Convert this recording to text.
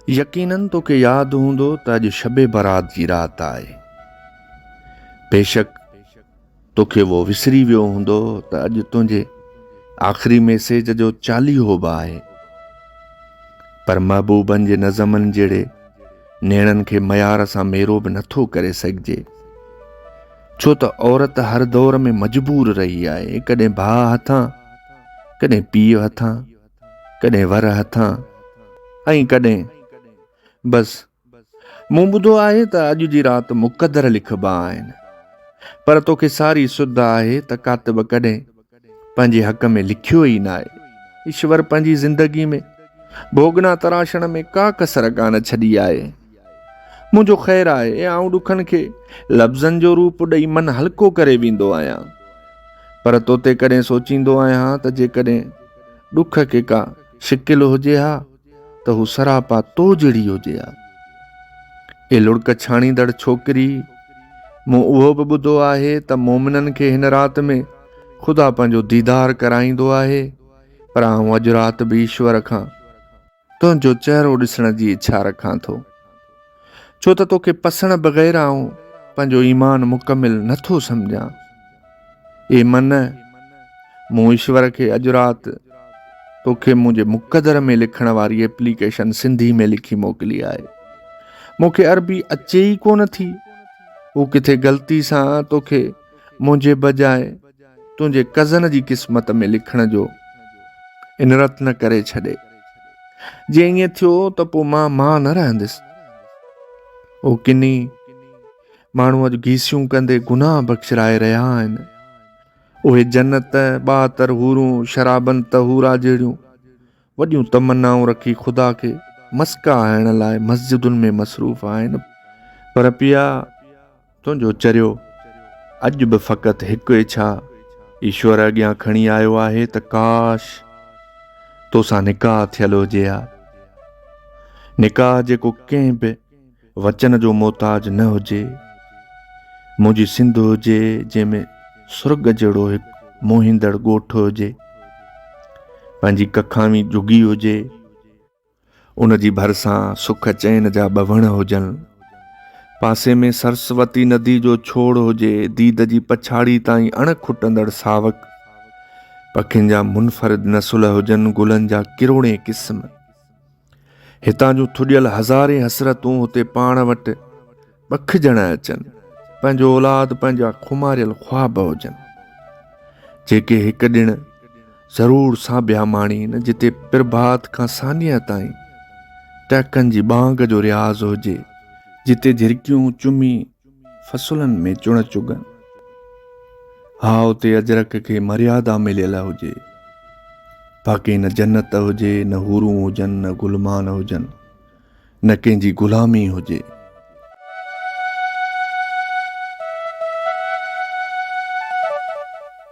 يقيناً توکي ياد هوندو ته اڄ شب برات جي رات آهي. بيشڪ توکي اهو وسري ويو هوندو ته اڄ تنهنجي آخري ميسيج جو چاليهو به آهي. پر محبوبن جي نظمن جهڙي نيڻن کي معيار سان ميرو به نٿو ڪري سگهجي. ڇو ته عورت هر دور ۾ مجبور رهي آهي، ڪڏهن ڀاء هٿان، ڪڏهن پيء هٿان. ڪڏهن ور هٿان ۽ ڪڏهن بس مون ٻڌو آهي ته اڄ جي رات مقدر لکبا آهن پر توکي ساري سڌ آهي ته ڪاتب ڪڏهن پنهنجي حق ۾ لکيو ئي ناهي ايشور پنهنجي زندگي ۾ ڀوڳنا تراشڻ ۾ ڪا ڪسر ڪانه ڇڏي آهي. منهنجو خير آهي، آئون ڏکن کي لفظن جو روپ ڏئي من هلڪو ڪري ويندو آهيان، پر تو تي ڪڏهن سوچيندو آهيان ته جيڪڏهن ڏک کي ڪا شڪل هجي ها ته هو سراپا تو جهڙي هجي ها. اي لڙڪ ڇاڻيندڙ ڇوڪري! مون اهو به ٻڌو آهي ته مومنن کي هن رات ۾ خدا پنهنجو ديدار ڪرائيندو آهي، پر آئون اڄ رات به ايشور کان تنهنجو چهرو ڏسڻ جي اڇا رکان ٿو، ڇو ته توکي پسڻ بغير آئون پنهنجو ايمان مڪمل نه ٿو سمجهان. اي من! مون ايشور کي اڄ رات توکي منهنجي مقدر ۾ لکڻ واري ايپليڪيشن سنڌي ۾ لکي موڪلي آهي. مون کي عربي اچي ئي ڪونه ٿي. هو ڪٿي غلطي سان توکي منهنجي بجاء تنهنجي ڪزن جي قسمت ۾ لکڻ جو انرت نه ڪري ڇڏي. جي ائين ٿيو ته پوء مان مان نه رهنديس. هو ڪني ماڻهوء جو گيسيون ڪندي گناهه بخشرائي رهيا آهن. اهي جنت، ٻاهتر حورون، شرابن طهورا جهڙيون وڏيون تمنائون رکي خدا کي مسڪا هڻڻ لاء مسجدن ۾ مصروف آهن. پر پيا! تنهنجو چريو اڄ به فقط هڪ اڇا ايشور اڳيان کڻي آيو آهي ته ڪاش توسان نڪاح ٿيل هجي ها. نڪاح جيڪو ڪنهن به وچن جو محتاج نه هجي. منهنجي سنڌ هجي جنهن ۾ سرڳ جهڙو هڪ موهيندڙ ڳوٺ هجي. پنهنجي ڪکاوين جهڳي هجي. ان جي ڀرسان سک چين جا ٻه وڻ هجن. پاسي ۾ سرسوتي ندي جو ڇوڙ هجي، ديد جي پڇاڙي تائين اڻ کٽندڙ ساوڪ، پکين جا منفرد نسل هجن، گلن جا ڪروڙين قسم. هتان جون ٿڏيل هزارين حسرتون هتي پاڻ وٽ ٻک ڄڻ اچن، پنهنجو اولاد پنهنجا خماريل خواب هجن، جيڪي هڪ ڏڻ ضرور سانڀيا ماڻين، جتي پرڀات کان سانيهه تائين ٽهڪن جي ٻانگ جو رياض هجي، جتي جهرڪيون چمي فصلن ۾ چڻ چگن، ها اتي اجرڪ کي مريادا مليل هجي، باقي نه جنت هجي، نه حورون هجن، نه غلمان هجن. نه ڪنهن جي غلامي هجي.